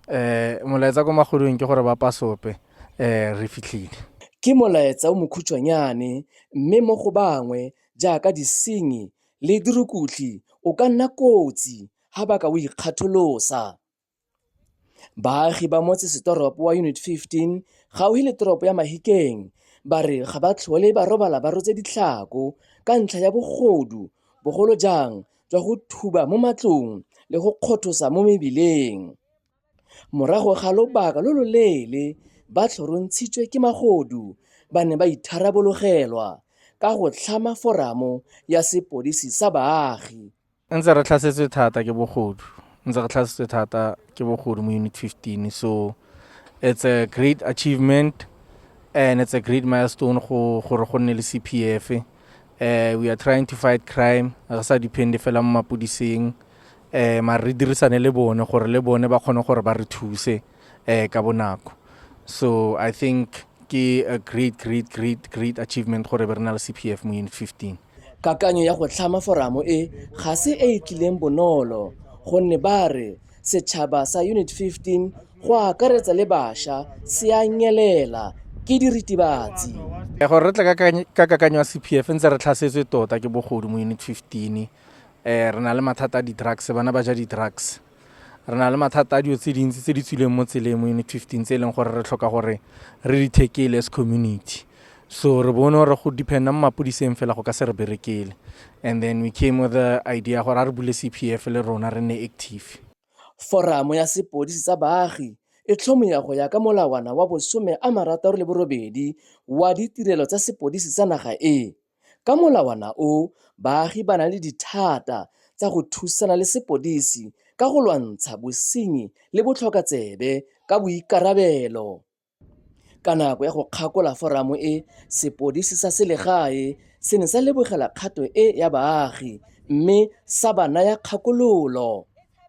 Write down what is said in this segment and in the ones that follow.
um molaetsa ko magodung ke gore ba pasope um re fitlhile ke molaetsa o mokhutshwanyane mme mo go bangwe jaaka disenyi le dirukutlhi o ka nna kotsi ha ba ka o ikgatholosa baagi ba motse setoropo wa unit 15 gauhi le toropo ya mahikeng ba re ga ba tlhole ba robala ba rotse ditlhako ka ntlha ya bogodu bogolo jang jwa go thuba mo matlong le go kgothosa mo mebileng. Morago ga lobaka lo lo leele ba tlhorontshitswe ke magodu ba ne ba itharabologelwa ka go tlhama foramo ya sepodisi sa baagi. Ntse re tlhasetswe thata ke bogodu ntse re tlhasetswe thata ke bogodu mo unit 15 so it's a great achievement and it's a great milestone go gore go nne le CPF eh we are trying to fight crime re sa depende fela mo mapodiseng eh ma re dirisane le bone gore le bone ba kgone gore ba re thuse eh ka bonako so i think ke a great great great great achievement gore be re na le CPF mo in 15 kakanyo ya go tlhama foramo e ga se e e tlileng bonolo gonne ba re setšhaba sa unit 15 go akaretsa le bašwa, se a nyelela, ke diritibatsi. Gore re tle ka kakanyo ya CPF ntse re tlhasetswe tota ke bogodu mo unit 15 um eh, re na le mathata a di-drugs bana ba ja di-drugs re na le mathata a dilo tse dintsi tse di tswileng mo tseleng mo unit 15 tse e leng gore re tlhoka gore re di thekele as community so re bone gore go dependa mo mapodiseng fela go ka se re berekele and then we came with the idea gore a re bule cpf le rona re nne active Foramo ya Sepodisi sa Baagi e tlhomiwa go ya ka molawana wa bo 68 wa Ditirelo tsa Sepodisi sa naga e. Ka molawana o, baagi ba na le dithata tsa go thusana le sepodisi ka go lwantsha bosenyi le botlhokatsebe ka boikarabelo. Ka nako ya go kgakola foramo e, sepodisi sa selegae se ne sa lebogela kgato e ya baagi mme sa ba naya kgakololo.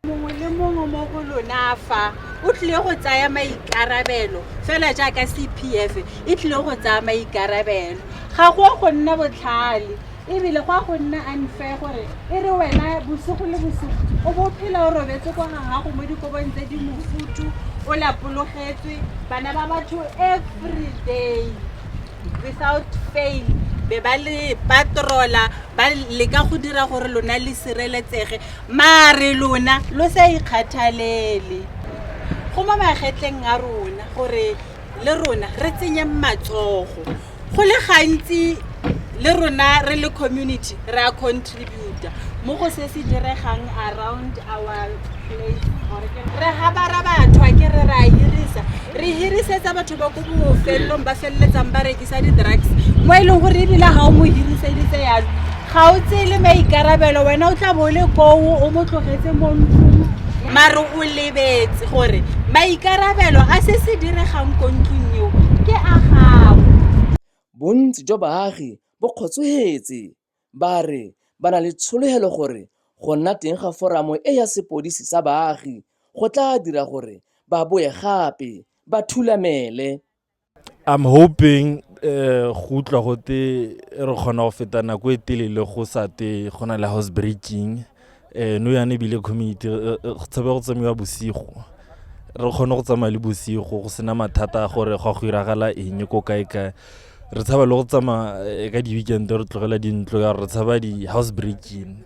Mongwe le mongwe mo go lona fa o tlile go tsaya maikarabelo fela jaaka CPF e tlile go tsaya maikarabelo. Ga go a go nna botlhale ebile go a go nna unfair gore e re wena bosigo le bosigo o bo phela o robetse kwa ga gago mo dikobong tse di mofutu o lapologetswe bana ba batho every day without fail be ba le patrola ba leka go dira gore lona le sireletsege mare lona lo sa ikgathalele go mo magetleng a rona gore le rona re tsenyeng matsogo go le gantsi le rona re le community re a contributa mo go se se diregang around our place re habara batho a ke re re a hirisa re hirisetsa batho ba ko bofelelong ba feleletsang ba rekisa di-drugs mo e leng gore ebile ga o mo hiriseditse yalo ga o tseye le maikarabelo wena o tla bo o le koo o mo tlogetse mo ntlong mare o lebetse gore maikarabelo a se se diregang ko ntlong eo ke a gago bontsi jwa baagi bo kgotsogetse ba re ba na le tshologelo gore go nna teng ga foramo e ya sepodisi sa baagi go tla dira gore ba boe gape ba thulamele I'm hoping eh go utlwa go te re kgona go feta nako e telele go sa te go na le house breaking eh no yana ebile community eh, eh, go tshabe go tsamaiwa bosigo re kgone go tsamaya le bosigo go sena mathata a gore go a go iragala eng ko kae kae re tshaba le go tsamaya eh, ka di-weekend re tlogela dintlo ya re tshaba di-house breaking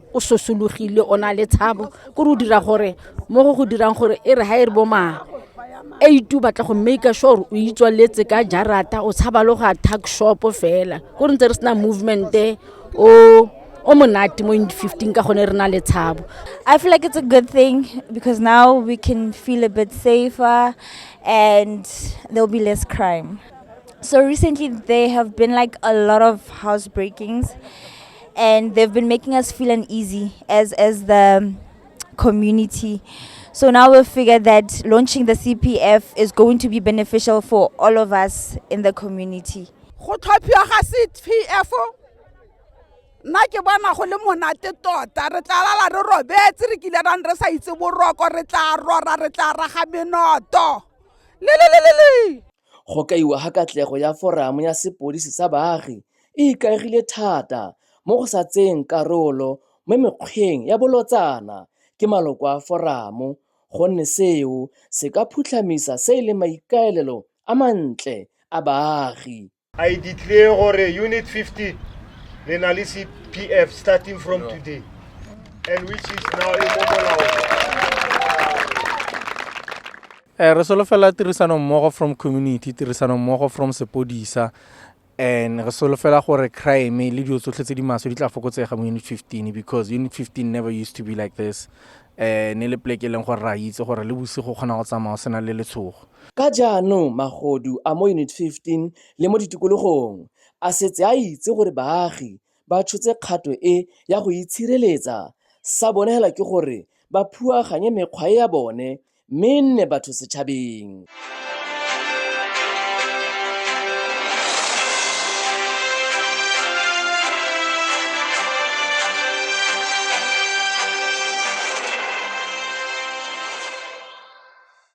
o sosologile o na le tshabo kore o dira gore mo go go dirang gore e re ga e re bo maa eight o batla go make sure o itswaletse ka jarata o tshaba le go a tuck shop fela ko re ntse re sena movement o o monate mo fifteen ka gone re na le tshabo i feel like it's a good thing because now we can feel a bit safer and there'll be less crime so recently there have been like a lot of house breakings and they've been making us feel uneasy as as the community. So now we've figured that launching the CPF is going to be beneficial for all of us in the community. Go tlhophiwa ga CPF nna ke bona go le monate tota re tla lala re robetse re kile rang re sa itse boroko re tla rora re tla raga menoto le le le le le go kaiwa ga katlego ya foramo ya sepodisi sa baagi e ikaegile thata mo go sa tseyeng karolo mo mekgweng ya bolotsana ke maloko a Foramo gonne seo se ka phutlhamisa se e leng maikaelelo a mantle a baagi. I declare gore Unit 15 le na le CPF starting from today and which is now le mo molaong. Eh, re solofela tirisano mmogo from community tirisano mmogo from sepodisa and re solofela gore crime le dilo tsotlhe tse di maswe di tla fokotsega mo unit 15 because unit 15 never used to be like this um ne le pleke e leng gore ra itse gore le bosigo kgona go tsamaya o sena le letshogo ka jaanong magodu a mo unit 15 le mo ditikologong a setse a itse gore baagi ba tshotse kgato e ya go itshireletsa sa bonegela ke gore ba phuaganye mekgwa e ya bone mme e nne batho setšhabeng.